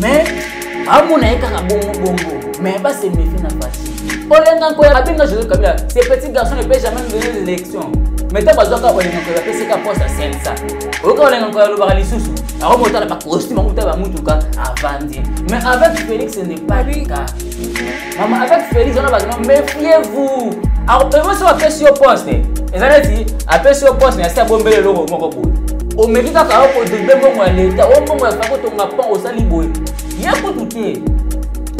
mais amona ye kaka bongo bongo mais base méfie na faci olenga nkoya abenga joseph kabila ce petit garçon ne peut jamais me donner l'élection mais ntango azwaka olenga nkoya bapesi ka poste asensa oyoka olenga nkoya alobaka lisusu akomi otala bacostume akuta bamutuka avandi mais avec félix ne pas le cas mama avec félix wana bato méfiez vous evo soki apesi yo poste eza neti apesi yo poste nasi abombeli eloko moko boye omeki kaka yo kodebe mbongo ya leta o mbongo ya fako tonga pan osali boye ye kutu te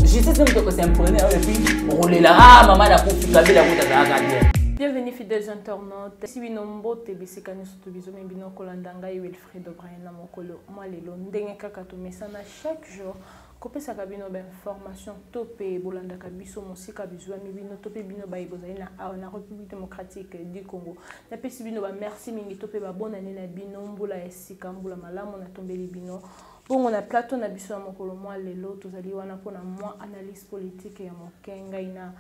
justice meme toko s'impone oyo epuis okolela a mama nakufi kabila kutu azalaka bien Bienvenue fidèles internautes. Si bino mbote bisika nyonso to bizomi bino kolanda ngai Wilfried O'Brien na mokolo mwa lelo ndenge kaka tomesana chaque jour kopesaka bino bainformation to mpe bolandaka biso mosika bizuami bino to mpe bino baye bozali na awa na république démocratique du congo napesi bino bamerci mingi to mpe babonane na bino mbula ya sika mbula malamu natombeli bino bongo na plateau na biso ya mokolo mwa lelo tozali wana mpo na mwa analyse politique ya moke ngai na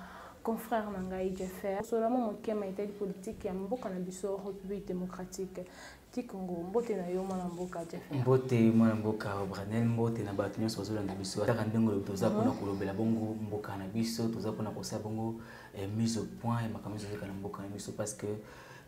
confrère na ngai jeffer solama mokema etali politike ya mboka na biso république démocratique Kikongo, mbote na yo mwana mboka Jeff. Mbote mwana mboka Branel, mbote na bato nyonso bazolanda biso. Ataka ndenge oyo toza mpona mhm. kolobela bongo mboka na biso, toza mpona kosala bongo eh, mise au point ya makambo nyonso ezoleka na mboka na biso parce que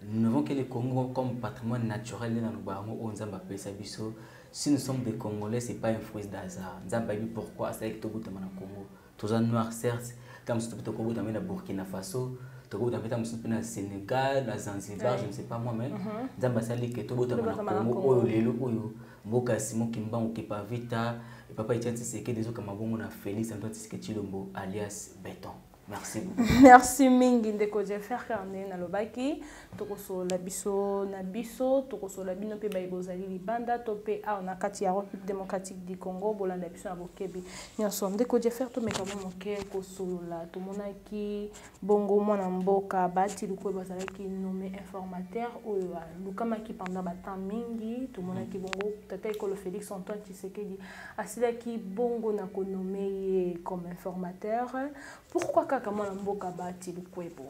nous n'avons que le Congo comme patrimoine naturel nde na loba yango oyo Nzambe apesa biso. Si nous sommes des Congolais, c'est pas un fruit d'hasard. Nzambe ayebi pourquoi asalaki tobutama na Congo. toza noir certes ntango mosusu mpe tokobota mpe na burkina faso tokobota mpe ntango mosusu mpe na sénégal na zanzibar je ne sais pas moi même mhm. nzambe asali ke tobotama na congo oyo lelo oyo mboka ya simon kimbangu kepavita papa etienne tshisekedi ezokama bongo na félix antoine tshisekedi tshilombo alias beton merci beaucoup merci mingi ndeko jeffer carne nalobaki tokosolola biso na biso tokosolola bino mpe baye bozali libanda to mpe awa na kati ya république démocratique du congo bolanda biso na bokebi nyonso ndeko jeffer tomeka mwa moke kosolola tomonaki bongo mwana mboka baati lukwe bazalaki nommé informateur oyo alukamaki pendant batemp mingi tomonaki bongo tata ekolo félix antoine tshisekedi asilaki bongo na konome ye comme informateur pourquoi kaka mwana mboka baati lukwebo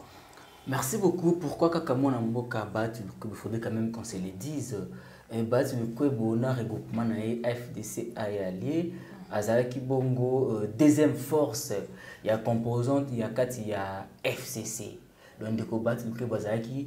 Merci beaucoup. Pourquoi kaka mwana mboka Bahati Lukwebo il faudrait quand même qu'on se le dise. Eh, Bahati Lukwebo na regroupement na ye FDC aye allié azalaki bongo euh, deuxième force ya composante ya kati ya FCC. Donc ndeko Bahati Lukwebo azalaki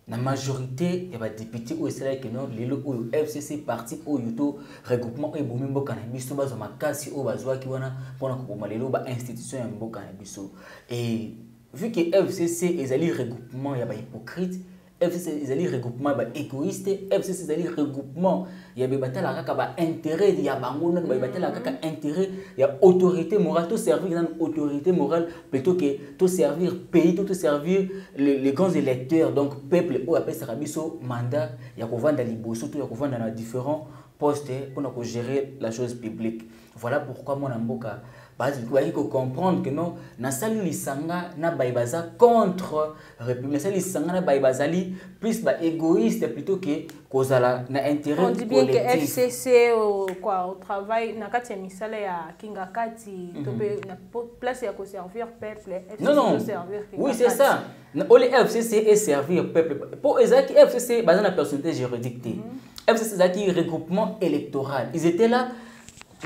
na majorité ya badepute oyo esalaki no lelo oyo fcc parti oyo to regroupement oyo ebomi mboka na biso bazwa makasi oyo bazwaki wana mpona koboma lelo bainstitution ya mboka na biso e Vu que FCC ezali regroupement ya ba hypocrite, FCC ezali regroupement ya ba égoïste, FCC ezali regroupement ya ba batala kaka ba intérêt ya bango na ba batala kaka mm. intérêt ya autorité morale to servir na autorité morale plutôt que to servir pays to to servir les, les grands électeurs donc peuple oyo apesaka biso mandat ya kovanda liboso to ya kovanda na différents poste pona ko gérer la chose publique voilà pourquoi mwana mboka bazali kocomprendre que non nasali lisanga na baye baza contre république nasali lisanga na baye bazali plus ba égoïste plutôt que kozala na intérêt on dit bien que fcc euh, quoi au travail na kati ya misala ya kingakati to mhm. mpe na place ya koservir peuple fcc non non oui c'est ça Na oli FCC et servir peuple. Pour Isaac, FCC, basé la personnalité juridique. Mm -hmm. FCC, c'est regroupement électoral. Ils étaient là,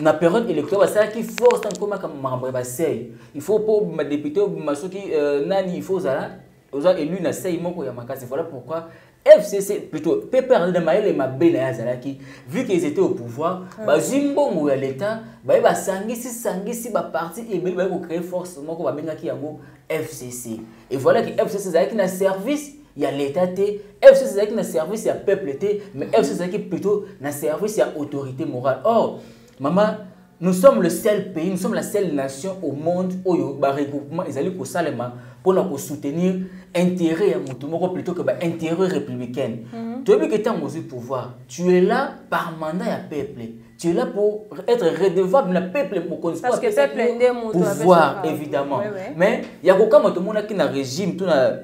na période électorale basalaki force ntango mpo makambo makambo ya basei il faut mpo badepute obima soki euh, nani il faut ozala oza élu na sei moko ya makasi voilà pourquoi fcc plutôt ppr na mayele mabe na ye azalaki vu qu'ils étaient au pouvoir hmm. bazwi mbongo ya l'état baye basangisi sangisi baparti ebele baye kocree force moko babengaki yango fcc et voilà que fcc ezalaki na service ya l'état te fcc ezalaki na service ya peuple te mais fcc ezalaki plutôt na service ya autorité morale or mama nous sommes le seul pays nous sommes la seule nation au monde oyo baregroupement ezali kosalema mpona kosoutenir intérêt ya moto moko plutôt que baintérêt républicaine mhm. toyebi ke ntango ozwi pouvoir tu es là par mandat ya peuple tu es là pour être redevable na peuple mokonzi pouvoir évidemment mais ya kokama tomonaki na régime to na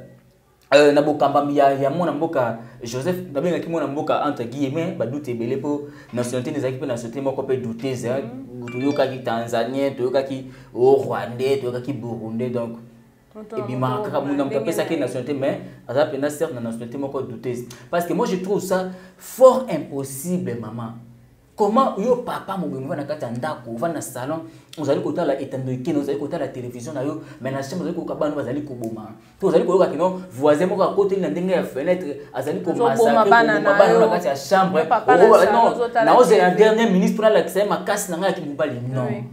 Euh, na bokambami ya, ya mwana mboka joseph nabengaki mwana mboka entre guillemets badute ebele mpo nationalité nde ezalaki mpe nationalité moko mpe doutese mhm. toyokaki tanzanien toyokaki o rwandais toyokaki burundais donc ebimaka kaka muna moto apesaki nationalité mais aza mpenza certes na nationalité moko doutese parce que moi je trouve ça fort impossible maman comment yo papa mobimbi ovanda na kati ya ndako ovanda na salon ozali kotala etando ekeno ozali kotala televizio na yo mai na chambre ozali koyoka bana bazali koboma to ozali koyoka kino voisin moko akoteli na ndenge ya fenetre azali komasakoboma bana na kati ya chambre naozela dernier ministre mpo nalakisa ye makasi na ngai ya kimobali non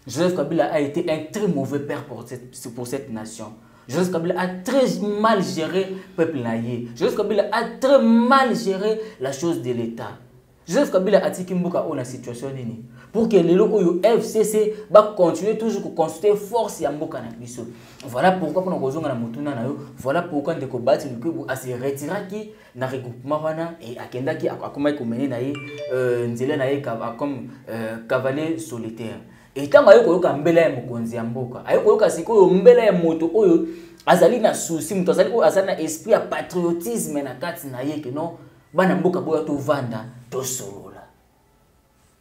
Joseph Kabila a été un très mauvais père pour cette, pour cette nation. Joseph Kabila a très mal géré le peuple naïe. Joseph Kabila a très mal géré la chose de l'État. Joseph Kabila a dit qu'il y a situation nini pour que les oyo FCC va continuer toujours à construire force ya mboka na biso. Voilà pourquoi on a besoin de motuna na yo. Voilà pourquoi ndeko Bati Lukubu a se retiré qui na regroupement wana et akendaki akomaki komene na ye euh, nzela na ye comme euh, cavalier solitaire et ntango aye koyoka mbela ya mokonzi ya mboka aye koyoka sikoyo mbela ya moto oyo azali na souci moto azali oyo azali na esprit ya patriotisme na kati na ye ke non bana mboka boya tovanda tosolola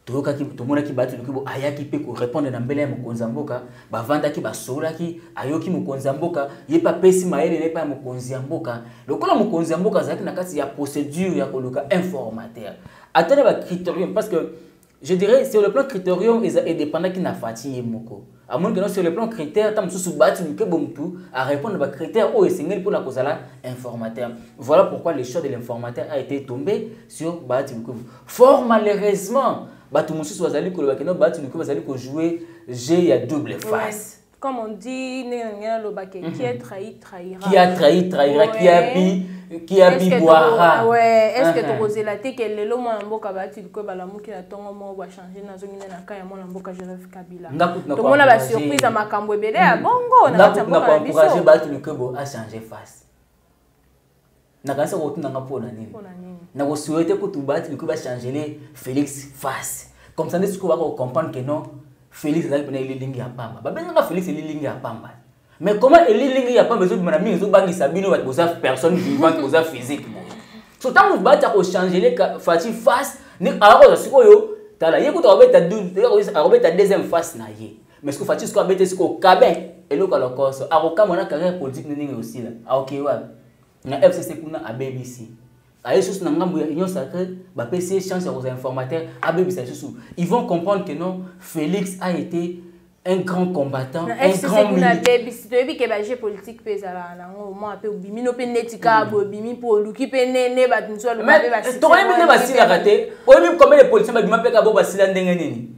toyokaki tomonaki bato noki bo ayaki mpe korepondre na mbele ya mokonzi ya mboka bavandaki basololaki ayoki mokonzi ya mboka ye mpe apesi mayele na epai ya mokonzi ya mboka lokola mokonzi ya mboka azalaki na kati ya procédure ya koluka informateur ata na bacriterium parce que je dirais sur le plan criterium edépendaki na fati ye moko amoni keno sur le plan critère ntango mosusu bati mokebo motu arépondre ba critère oyo esengeli mpona kozala informateur voilà pourquoi le choix de l'informateur a été tombé sur baati mokebo fort malheureusement bato mosusu bazali koloba keno baati mokebo bazali kojoue jeu ya double face comme on dit ndenge na ndenge naloba ke qui est trahi trahira qui a trahi trahira qui a bi qui a bi boira ouais est-ce que uh-huh. tokozela te que lelo mwana mboka ba ti ko ba lamuki na tongo mo ba changer na zongi na ka ya mwana mboka Joseph Kabila to mona ba surprise ya makambo ebele ya hmm. bongo na kati ya mboka na biso na encourager ba ti ko bo a changer face nakanisa kokotuna nga mpo na nini nakosuete kutu bati bikoki bachangele félix face comme ça nde sikoyo baka kocomprendre que non félix azalaki mpena elilingi ya pamba babengaka félix elilingi ya pamba mais comment elilingi ya pamba ezobima na mingi ezobangisa bino bato boza personne vivante boza physique boye so ntango bati akochangele faci face akozwa sikoyo tala ye kutu akobeta deuxième face na ye mais sikoyo faci sikoyo abete sikoyo kabin eloko ya lokoso akokamwa na carrière politique na ndenge osila akokeyi wapi na fcc kuna abebisi aye lisusu na ngambo ya union sacré bapesi ye chance ya kozala informateur abebisa lisusu ils vont comprendre que non félix a été un grand combattant na un grand kuna abebisi toyebi ke baje politique mpe ezalaka nango mwa mpe obimi no mpe neti kaka mm. bobimi mpo oluki mpe nene bato mosusu aloba mpe basitokoyebi nde basilaka te oyebi combien de politicien babima mpe kaka bo basila ndenge nini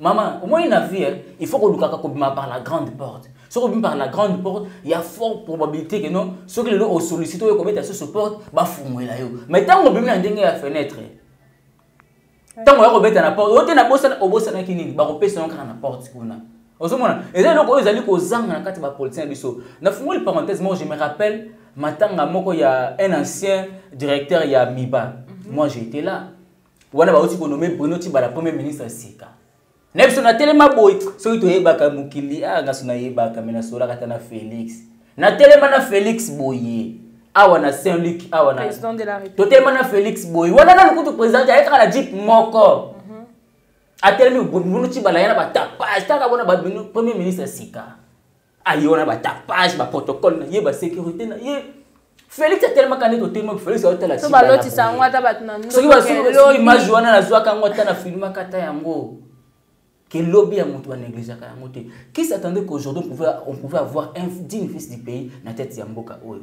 Maman, au moins la vie, hein, il faut qu'on nous par la grande porte. Si on par la grande porte, il y a forte probabilité que non, ceux qui l'ont sollicité, ils commettent sur ce porte, bah fumoué là. Mais tant qu'on peut bien dégager la fenêtre, tant qu'on peut bien la porte, on est na bosse, on bosse na kini, bah on peut se rendre à la porte qu'on a. ozomona eza eloko oyo ezali kozanga na kati ya bapolitien na biso nafungoli parenthèse moko je me rappelle matanga moko ya un ancien directeur ya miba mhm. moi j'étais là wana bauti konome bruno tibala premier ministre sika na biso natelema boye soki toyebaka mokili ah, ngaso nayebaka me nasolaka ata na félix natelema na félix boye awa na saint luc awa na totelema na félix boye wana nanu kutu président te ayekaka na jip moko mhm. atelemi bruno tibala ya na batapage taka bona premier ministre sika aye wana batapage baprotocole na ye basécurité na ye félix atelemaka nde totelema félix aotala balotisa yango ata bato na soki basuki image wana nazwaka yango ata na filmaka ata yango que lobby ya moto banegligeaka yango te qui s'attendait qu'aujourd'hui on pouvait avoir un digne fils du pays na tete ya mboka oyo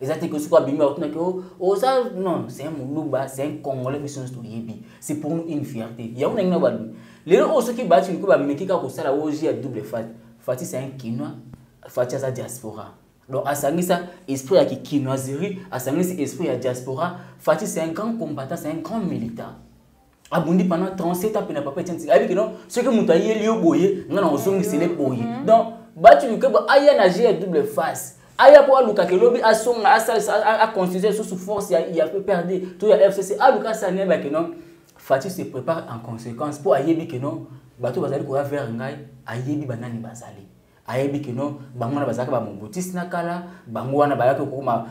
eza te soki abimi bakotunaki oh, oza non c'est un muluba c'est un congolais biso nyonso toyebi c'est pour nous une fierté yango nangi na balobi lelo oyo soki baati liko bameki kaka kosala oji ya double fat fati c'est un kinois fati aza diaspora donc asangisa esprit ya kikinoiserie asangisi esprit ya diaspora fati c'est un grand combattant c'est un grand militant abundi pendant 37 ans pena papa etienne tshisekedi ayebi kino soki moto ayeli yo boye nga na ozongisele boye mhm. donc batu lukebo aya na jeu ya double face aya mpo alukaka elobi asonga asalisa aconstitue lisusu force ya, ya pprd to ya fcc aluka asala nini ayebake non fati se prépare en conséquence mpo ayebi ke non bato bazali koya vers ngai ayebi banani bazali ayebi kino bango wana bazalaka bamobutisi na kala bango wana bayaki kokoma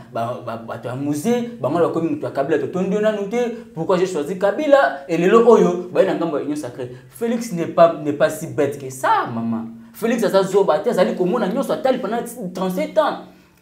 bato ya musee bango wana bakomi moto ya kabila totondi yo nanu te pourquoi je choisi kabila elelo oyo baye na ngambo ya union sacré félix n'est pas, pas si bête que ça mama félix aza zoba te azali komona nyonso atali pendant 37 ans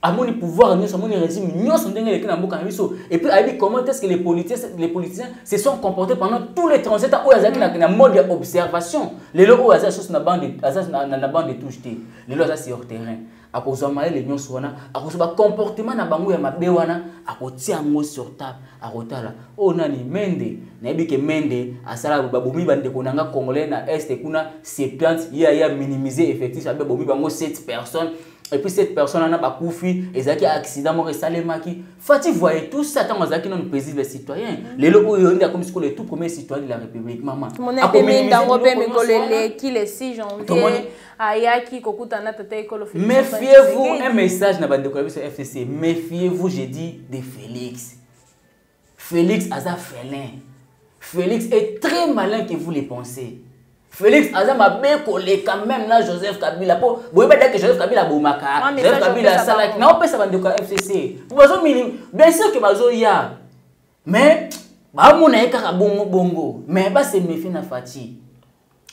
amoni pouvoir nyonso amoni régime nyonso ndenge eleki na mboka na biso et puis ayebi comment est-ce que les politiciens, les politiciens se sont comportés pendant tous les 37 ans oyo azalaki na, na mode ya observation lelo oyo aza lisusu na bande aza na, na, na bande de touche te lelo aza sur terrain akozwa mayele nyonso wana akozwa bacomportement na bango ya mabe wana akotia yango sur table akotala oyo oh, nani mende nayebi ke mende asala babomi bandeko na nga congolais na este kuna septante ye aya minimize effectif abe bomi bango 7 personnes et puis cette personne wana bakufi ezalaki accident moko esalemaki fati voye tout ça ntango azalaki nano paisible citoyen mm. lelo oyo nde akomi sikoyo le tout premier citoyen de la république mama yango mpe mikolo eleki le 6 janvier ayaki kokutana na tata ekolo méfiez-vous un message na bandeko ya biso fcc méfiez-vous je dis de félix Felix aza felin. Felix est très malin que vous les pensez. Felix aza mabe koleka même na Joseph Kabila po boyeba dake Joseph Kabila bomaka. Ah, Joseph Kabila asalaki na opesa bandeko ya FCC. Bazo mini bien sûr que bazo ya. Mais bamona ye kaka bongo bongo. Mais ba se méfier na Fatih.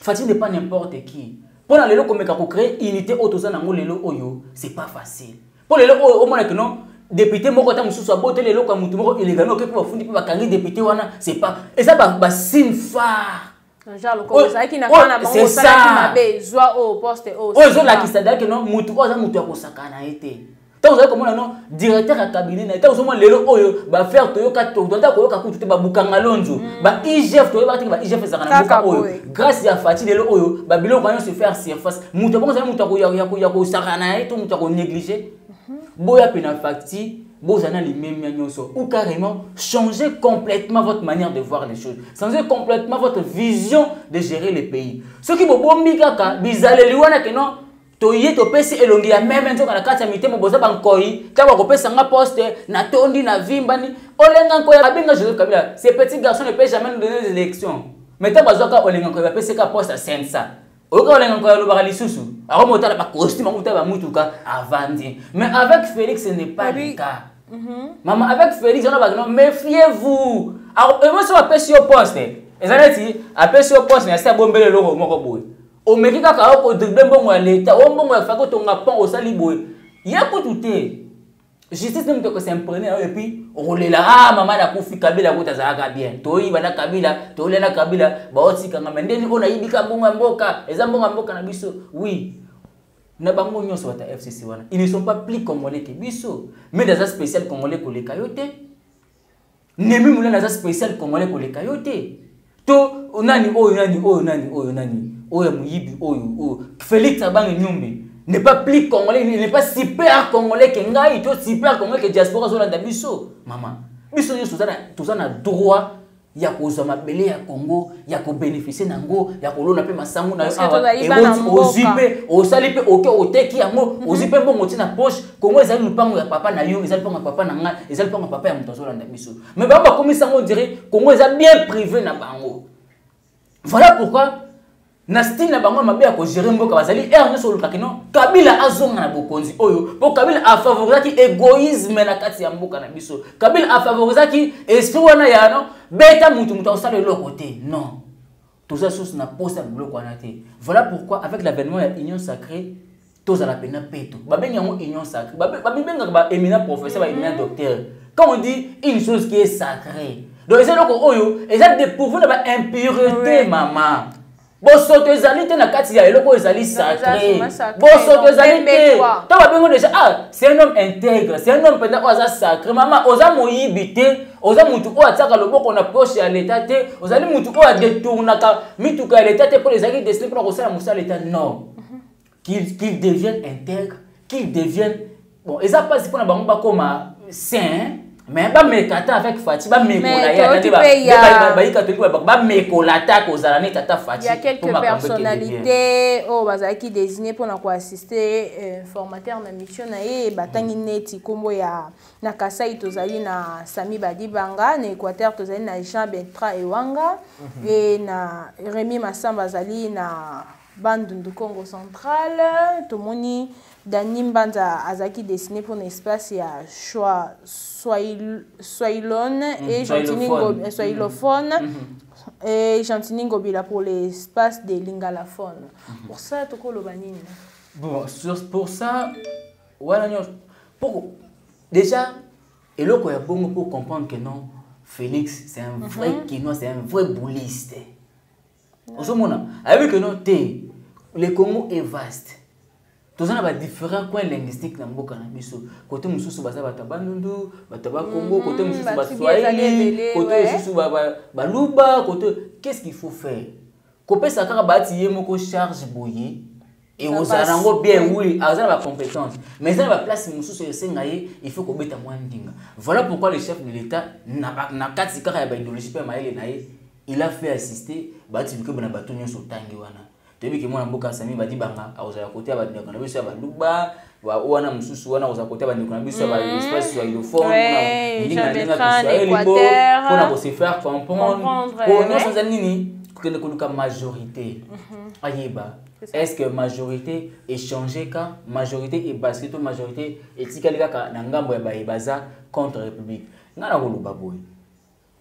Fatih n'est pas n'importe qui. Pour la lelo komeka ko créer unité auto za nango lelo oyo, c'est pas facile. Pour lelo oyo au moins que non député moko ta mususu abote lelo ka mutu moko illégal no kepo bafundi pe bakangi député wana c'est pas et ça ba, ba signe phare oyo ezolakisa dake no mutu oyo aza mutu ya kosakana ye te ntango ozali komona no directeur ya cabinet na ye ntango ozomona lelo oyo bafere toyoka todata koyoka kutu te babukanga lonzo mm. ba igf toyebaka teke ba igf ezalaka na mboka oyo grâce ya fati lelo oyo babiloko yango nyonso faire surface moto yango ozali moto ya kosakana na ye to moto ya konéglige mhm. boya mpe na facti bozala na limemia nyonso ou carrément changer complètement votre manière de voir les choses changer complètement votre vision de gérer le pays soki bobombi kaka bizaleli wana ke non toye topesi elongi ya meme nzoka na kati ya mitema boza bankoi ntango akopesa nga poste natondi na vimbani olenga nkoi abenga joseph kabila ce petit garçon ne peut jamais nous donner des élections mais ntango azwaka olenga nkoi bapesi ka poste asensa oyoka olenga nkoi alobaka lisusu akomi otala bacostume yango otala bamutuka avandi mais avec félix ce n'est pas le cas mhm. mama avec félix wana bakino méfiez vous emosi bapesi yo poste eza neti apesi yo poste na asi abombeli eloko moko boye omeki kaka yo kodrible mbongo ya leta o mbongo ya faki otonga pont osali boye ye kutu te justice nde moto s'imprene nayo epuis okolela a ah, mama nakufi kabila kutu azalaka bien toyiba na kabila tolia na kabila baotikanga me ndeni oyo nayibika mbongo ya mboka eza mbongo ya mboka na biso oui na bango nyonso bata fcc wana ils ne sont pas plus congolais ke biso mede aza spécial congolais koleka yo te Nemi Mulana aza spécial congolais koleka yo te. To nani oyo nani oyo nani oyo nani oyo muyibi oyo oyo Felix abange nyombe n'est pas plus congolais, il n'est pas super congolais que ngai, to super congolais que diaspora zolanda biso. Maman, biso nyonso toza na droit ya kozwa mabele ya congo ya kobénéficie na yango ya kolona mpe masango na yo awa ewoti ozwi mpe osali mpe oke oteki yango ozwi mpe mbongo ti na poche kongo ezali lupango ya papa na yo ezali lupango ya papa na ngai ezali lupango ya papa ya moto azolanda biso mais bango bakomisa yango dire kongo eza bien privé na bango voilà pourquoi na style na bango mabe ya kogere mboka bazali ere nyonso olukaki no kabila azonga na bokonzi oyo mpo kabila afavorisaki egoisme na kati ya mboka na biso kabila afavorisaki esprit wana ya no beta motu motu akosala eloko te non toza susu na posa biloko wana te voilà pourquoi avec l'avènement ya union sacrée tozala mpena peto babengi yango union sacrée babibengaka baéminent professeur baéminent mhm. docteur quand on dit une chose qui est sacrée donc eza eloko oyo eza dépourvu na baimpureté mama bosoto ezali te na kati ya eloko oyo ezali sacré bosoto ezali te to babengo déjà ah c'est un homme intègre c'est un homme mpenza oyo aza sacré mama oza moyibi te oza mutu oyo atiaka loboko na poche ya leta te ozali mutu oyo adetournaka mituka ya leta te mpo ezalaki destine mpona kosala mosala leta non qu'il qu devienne intègre qu'il devienne bon eza mpasi mpona bango bakoma saint mais bameka ata avec fati bamekola ye ata te bayi katolike babako bamekola ata kozala neti ata fati ya quelque personnalité oyo bazalaki désigne mpona koassiste euh, formateur na mission na ye batangi neti nkombo ya na kasai tozali na sami badibanga na équateur tozali na jean bentra ewanga mhm. e na remi masamba azali na bandundu congo central tomoni dani mbanza azalaki dessine mpo na espace ya soilone mhm. e gentini mhm. soilophone e gentini ngobila pour l'espace de lingalaphone pour ça tokoloba nini bon pour ça wana nyonso poko déjà eloko ya bongo mpo comprendre que non félix c'est un vrai mm -hmm. kinois c'est un vrai bouliste ozomona ayebi que non te le congo est vaste toza na badifférent coin linguistique na mboka na biso kote mosusu baza bato ya bandundu bato ya bakongo mhm, kote mosusu baswahili kote mosusu baluba kote qu'est ce qu'il faut faire kopesa kaka baati ye moko charge boye ekozala nango bien oui aza na bacompétence mais eza na baplace mosusu esenga ye il faut kobeta mwa ndinga voilà pourquoi le chef de l'état na kati kaka ya baidéologie mpe ya mayele na ye il a fait assister baati lukebo na bato nyonso otangi wana toyebi ke mwana mboka sami badibanga akozala kote ya bandeko na biso ya baluba wana mosusu wana kozala kota bandeko na biso ya baespace ya ilofonndingalingabisoyelibo mpona kose faire comprendre oyo nyonso eza nini kokende koluka majorité mhm. ayeba est ce que majorité échange ka majorité ebasike to majorité etikali kaka na ngambo ya baye baza contre république ngai nakoloba boye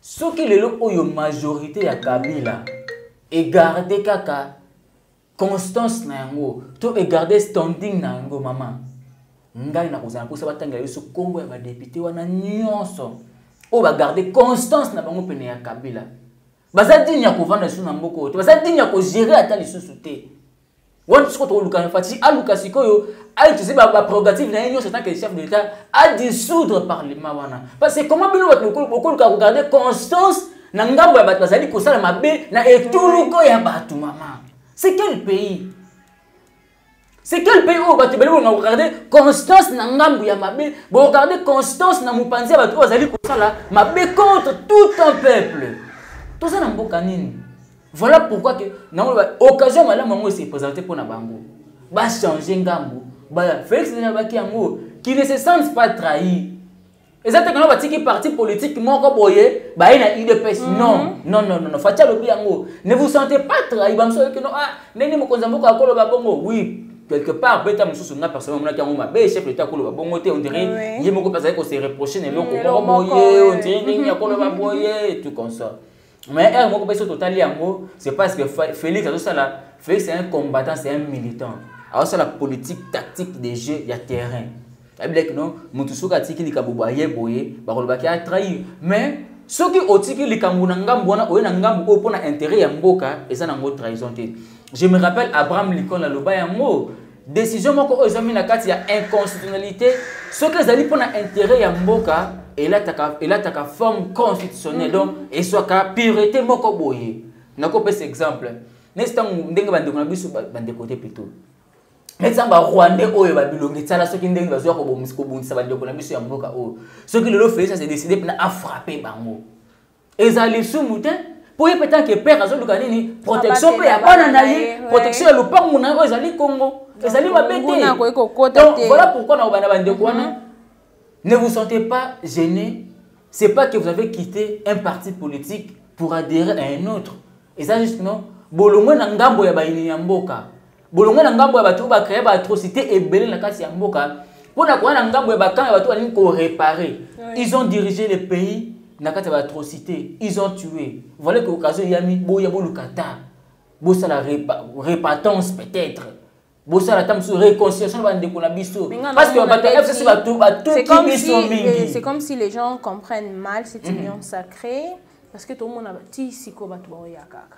soki lelo oyo majorité ya kabila egarde kaka constance na yango to egarde standing na yango mama ngai nakozala mposa batangela biso nkombo ya badepute wana nyonso oyo bagarde constance na bango pene ya kabila baza dini ya kovanda lisusu na mboka oyo te baza dini ya kogere ata lisusu te wana sikoyo tokolukana fatisi aluka sikoyo autilize baprerogative na ye nyonso tant que chef de l'état adissoudre parlement wana parce que comment bino bato bokoluka kogarde constance na ngambo ya bato bazali kosala mabe na etuluko ya bato mama c'est quel pays c'est quel pays oyo bato ebele bolonga kogarde constance na ngambo ya mabe bogarde constance na mopanzi ya bato oyo bazali kosala mabe contre tout un peuple toza na mboka nini voilà pourquoi ke nango occasion malamu yango ese présente mpo na bango bachange ngambo baya félix nabaki yango qui ne se sente pas trahi eza te kana batiki parti politique moko boye baye na udps mhm. non non non non faci alobi yango ne vous sentez pas trahi bamosusu oyoki no ah ndenge mokonzi ya mboka akoloba bongo oui quelque part beta mosusu nga personnel omonaki yango mabe chef leta akoloba bongo te ondire ye moko mpe azali kose reproche na eloko moko boye ondire ndenge akoloba boye tout comme ça mais heure moko mpe so totali yango c'est parce que félix azosala félix c'est un combattant c'est un militant azosala politique tactique de jeu ya terrain ayebilaki no motu soki atiki likambo boye boye bakolobaki atrahir mais soki otiki likambo na ngambo wana oye na ngambo oyo mpo na intérêt ya mboka eza nango trahison te je me rappelle abraham lincoln aloba yango Decision moko oyo ezwami na kati ya inconstitutionnalité soki ezali mpo na intérêt ya mboka elataka, elataka forme constitutionnelle mm -hmm. donc ezwaka purité moko boye nakopesa exemple nesi ntango ndenge bandeko na biso bandeko te plutôt neti ba rwandais oyo babilongi tsala soki ndenge bazwa kobundisa bandeko na biso ya mboka oyo soki lelo felisa se décide mpena afrappe bango ezala lisumu te mpo ye mpe tanke père azoluka nini protection mpe ya bana na ye protection ya lopango na ye oyo ezali kongo ezali mabe te voilà pourquoi na kobanda bandeko wana mhm. ne vous sentez pas gêné c'est pas que vous avez quitté un parti politique pour adhérer à un autre eza juste non bolongwe na ngambo ya bayini ya mboka bolongwe na ngambo ya bato oyo bacreye baatrocité ebele na kati ya mboka mpo na koya na ngambo ya bakamp ya bato balingi korepare ils ont dirigé le pays na kati ya baatrocité ils ont tué voilà que occasion eyami boya boluka ta bosala repatance peut-être bosala ata mosusu réconciliation na bandeko na biso parce que bato ya fcc batuki biso mingi c'est comme si les gens comprennent mal cette mhm. union sacrée parce que tomona ti sikoyo bato baoya kaka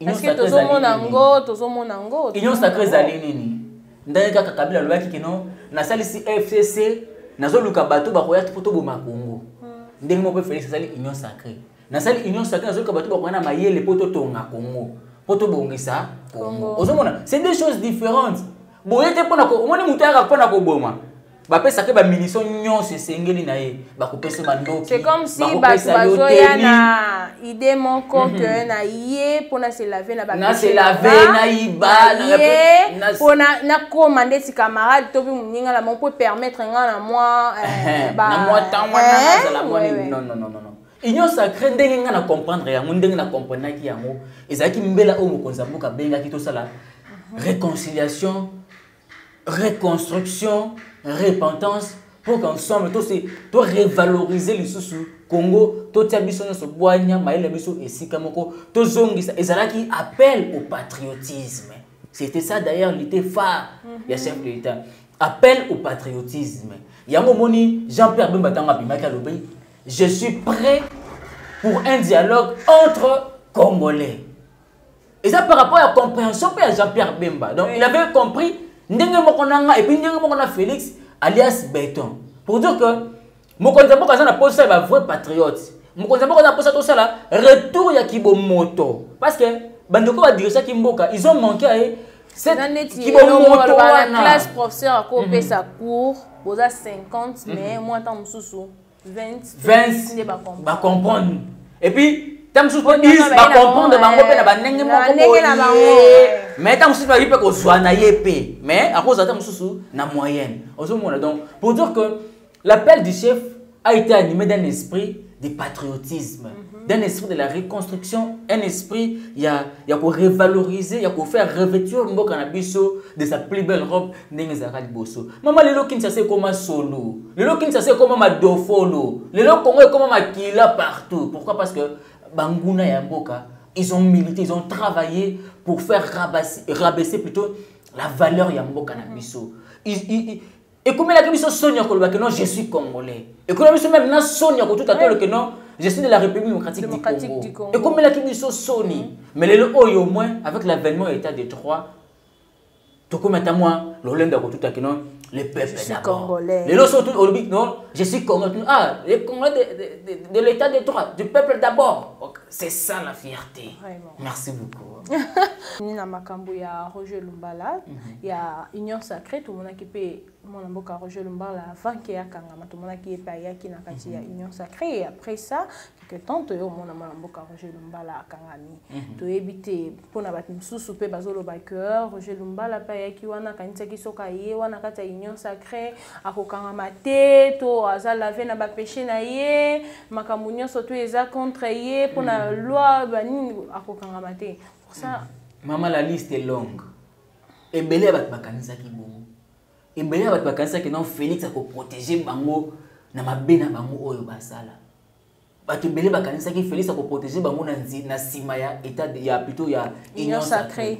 eske tozomona yango tozomona yango union sacre ezali nini ndenge kaka kabila alobaki kino nasalisi fcc nazoluka bato bakoya mpo toboma kongo hmm. ndenge moko mpe felix asali union sacre nasali union sacre nazoluka bato bakoya na mayele mpo totonga kongo mpo tobongisa kongo ozomona c'est deux choses différentes boye te mpona omoni moto ayaka mpona koboma bapesaka ba munition nyonso esengeli na ye bakopesa mandoki c'est comme si bato bazoya na idée moko mhm. que na ye mpo na se lave na na se lave na yiba ye mpo nakoma ndeti camarade to mpe moninga na bango mpo permettre ngai na mwa eh, na mwa ntango wana eh, nazala mwa nini non non non non union sacré ndenge ngai na comprendre yango ndenge na comprenaki yango ezalaki mbela oyo mokonzi ya mboka abengaki tosala mhm. réconciliation reconstruction repentance mpo qu'ensemble tose to revaloriser lisusu congo totia biso nyonso bwanya mayele na biso esika moko tozongisa ezalaki appel au patriotisme c'était ça d'ailleurs lite phare ya mhm. chef de l'état appel au patriotisme yango omoni jean pierre bemba ntango abimaki alobi je suis prêt pour un dialogue entre congolais eza par rapport ya comprehension mpe ya jean pierre bemba donc il avait compris ndenge moko na nga epuis ndenge moko na félix alias beton pour dire que mokonzi ya mboka aza na mposa ya bavrai patriote mokonzi ya mboka aza na mposa tosala retour ya kibomoto parce que bandeko badirisaki mboka ils ont manqué aye kibomoto wana classe professeur akopesa mhm. cours boza 50 mais mhm. mwa ntango mosusu 20 ba comprendre et puis ntango mosusu mpe is bacomprendre bango mpe na bandenge moko boye mais ntango mosusu bayebi mpe kozwa na ye mpe mais akozwa ntango mosusu na moyenne ozomona donc pour dire que l'appel du chef a été animé d'un esprit de patriotisme mm -hmm. d'un esprit de la reconstruction, un esprit ya, ya ko revaloriser, ya ko faire revêtir mboka na biso de sa plus belle robe ndenge ezalaka liboso. Mama lelo Kinshasa ekoma solo. Lelo Kinshasa ekoma madofolo. Lelo Congo ekoma makila partout. Pourquoi Parce que banguna ya mboka, ils ont milité, ils ont travaillé pour faire rabaisser, rabaisser plutôt la valeur ya mboka na biso. Ils, ils, ils, ekomelaki biso soni ya koloba ke non je suis congolais ekomelaki biso meme na soni ya kotuta tolo ke non je suis de la république démocratique du congo ekomelaki biso soni mm. mais lelo oyo au moins avec l'avènement ya état de droit tokomi ata mwa lolendo ya kotuta ke non le peuple d'abord lelo so olobi non je suis congolais ah le congolais de, de, de, de l'état de droit du peuple d'abord c'est ça la fierté Vraiment. Merci beaucoup. ni na makambo ya Roger Lumbala mm -hmm. ya Union Sacrée tomonaki mpe mwana mboka Roger Lumbala avant ke akangama tomonaki ye mpe ayaki na kati mm -hmm. ya mhm. Union Sacrée et après ça quelque temps toye omona mwana mboka Roger Lumbala akangami mm -hmm. toyebi te mpo na bato mosusu mpe bazoloba que Roger Lumbala mpe ayaki wana akanisaki soki aye wana kati ya Union Sacrée akokangama te to aza lave na bapeche na ye makambo nyonso to eza contre ye mpo na mm. loi banini akokangama te pour ça mm. mama la liste est longue ebele ya bato bakanisaki bongo ebele ya bato bakanisaki non félix akoprotege bango na mabe na bango oyo basala bato ebele bakanisaki félix akoprotege bango na nsima ya état ya plutôt ya union sacrée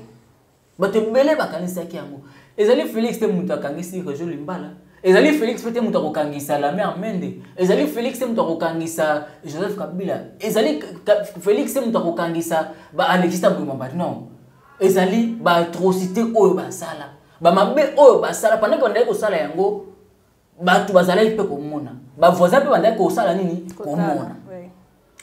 bato ebele bakanisaki yango ezali felix te moto akangisi rejo limbala ezali felix mpe te moto akokangisa lame amende ezali felix te moto akokangisa joseph kabila ezali felix te moto akokangisa baalexista mbemamba non ezali baatrocité oyo basala bamabe oyo basala pendant bandaki kosala yango bato bazalaki mpe komona bavoisin mpe bandaki kosala nini komona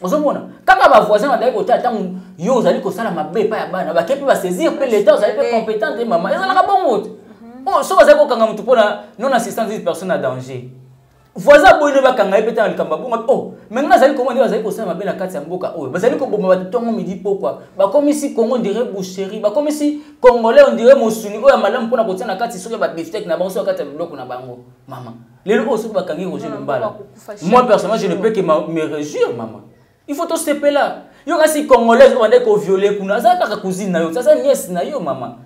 ozomona kaka bavoisin bandaki kotala ntango yo ozali kosala mabe epai ya bana bake mpe basaisir mpe leta ozali mpe competent te mama ezalaka bongo te mhm. oh, soki bazali kokanga motu mpo na non assistance dise personne na danger voisin aboyi no bakanga ye mpe ntango likambo abonga o oh, mai ngai azali komona nde bazali kosala mabe na kati ya mboka oyo bazali koboma bato ntongo midi pokwa bakomisi congo ndire boucherie bakomisi congolais on dirait mosuni oyo ya malamu mpona kotia na kati soki ya babiftek na bango soki ya kati ya biloko na bango mama lelo oyo soki bakangi roger lumbala moi personnellement je ne peux que me réjouir mama il faut tosepela yo kasi congolaise obandai koviole kuna aza kaka cousine na yo aza niese na yo mama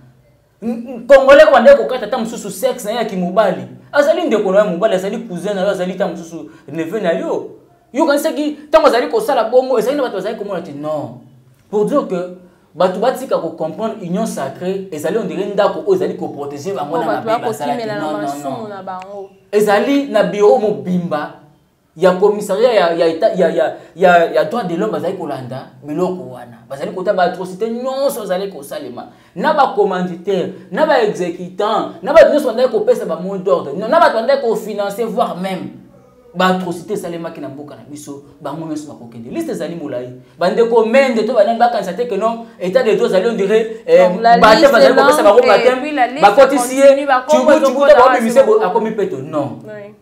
congolais obandai kokata ata mosusu sexe na ye ya kimobali azali ndeko na yo mobali azali cousin na yo azali ta mosusu neveu na yo yo kanisaki ntango azali kosala bongo ezali na bato bazali komona te non pour dire que bato batika ko comprendre union sacrée ezali ondire ndako oyo ezali koprotege bango na mabe basalaki ezali na biro mobimba ya commissariat ya, ya, ya, ya, ya, ya, ya droit de l'homme bazali kolanda biloko wana bazali kota baatrocité nyonso ezali kosalema na bacommanditaire na baexécutant na bato nyonso bandaki kopesa bamot d'ordre na bato bandaki kofinance voire même baatrocité esalemaki na mboka na biso bango nyonso bakokende liste ezali molai bandeko mende to banani bakanisa te keno etat de droit ezali ondire eh, bate bazali kopesa bango batem bakotisi ye cubucubuta baobimise akomi peto non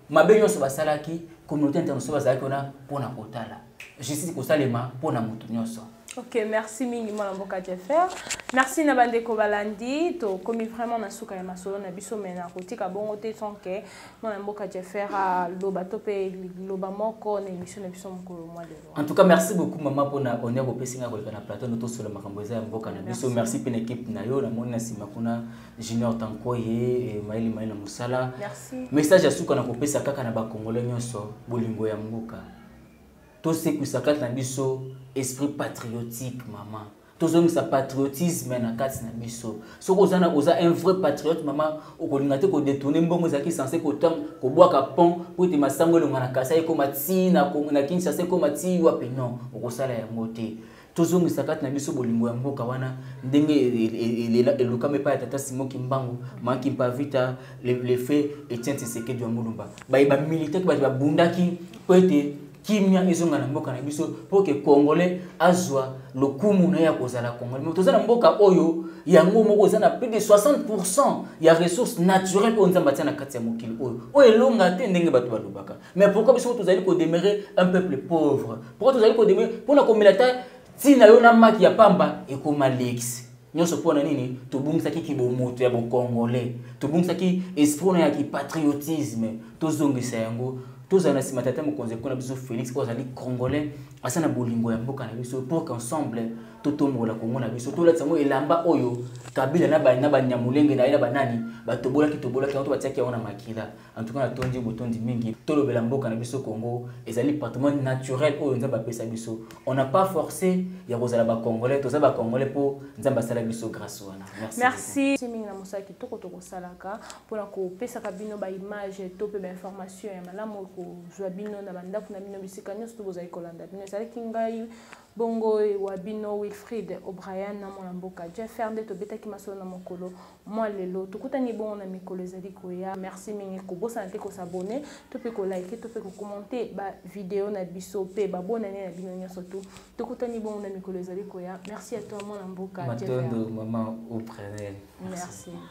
mabe nyonso basalaki communauté international bazalaki wana mpo na kotala justice kosalema mpo na moto nyonso ok merci mingi mwana mboka jeffer merci na bandeko balandi tokomi vraiment na suka ya masolo na biso mai na kotika bongo te sans ke mwana mboka jeffer aloba to mpe liloba moko na émission na biso mokolo mwa lelo en tout cas merci beaucoup mama mpona honneur opesi ngai koleka na plateau no tosola makambo eza ya mboka na biso merci mpe na équipe na yo namoni na nsima kuna junior tankoye eh, maili maili na mosala message ya suka na kopesa kaka na bacongolais nyonso bolingo ya mboka tosekwisa kati na biso esprit patriotique mama tozongisa patriotisme na kati na biso soki oza na oza un vrai patriote mama okolinga te kodetourne mbongo ezalaki sense kotam kobwaka pont mpo ete masango elonga na kasa ekoma ti na kinshasa ekoma ti wapi non okosala yango te tozongisa kati na biso bolingo ya mboka wana ndenge e, e, e, elukama epai ya tata simo kimbangu maki mpavita lefe etienne tshisekedi ya mulumba baye bamilitaki bato babundaki mpo ete kimia ezonga na mboka na biso mpo ke congolais azwa lokumu na ye ya kozala congolais me toza na mboka oyo yango moko eza na plus de 60 pourcent ya ressource naturelle oyo nzambe atya na kati ya mokili oyo oyo elonga te ndenge bato balobaka mais pourquoi biso tozali kodemeure un peuple pauvre pourquoi tozali kodemeure mpo na komela ata ntina yo na maki ya pamba ekoma leki nyonso mpo na nini tobungisaki kibomoto ya bokongolais tobungisaki esprit na ya kipatriotisme tozongisa yango tozala na nsima tata mokonzi ekona biso félix oyo azali congolais asa na bolingo ya mboka na biso pour qu'ensemble totombola kongo na biso tolatisa yango elamba oyo kabila na banyamulenge na ye na banani batobolaki tobolaki yango to batiaki yango na makila En tout cas, natondi botondi mingi. Tolobela mboka na biso Congo, ezali patrimoine naturel oyo Nzambe apesa biso. On n'a pas forcé ya kozala ba Congolais, toza ba Congolais po Nzambe asala biso grâce wana. Merci. Merci. C'est mingi na mosala kitoko toko salaka pona ko pesa ka bino ba image to pe ba information ya malamu ko zwa bino na bandaku na bino bisika nyoso to bozali kolanda bino. Ezali kingai bongo wa bino Wilfried O'Brien na mwana mboka Jeff Fernde tobetaki masolo na mokolo mwa lelo tokutani bongo na mikolo ezali koya merci mingi kobosana te kosabone to mpe kolike to mpe kokomante bavideo na biso mpe babonani na bino nyonso tu tokutani bongo na mikolo ezali koya merci ya toi mwana mboka matondo mama oprenel merci, merci.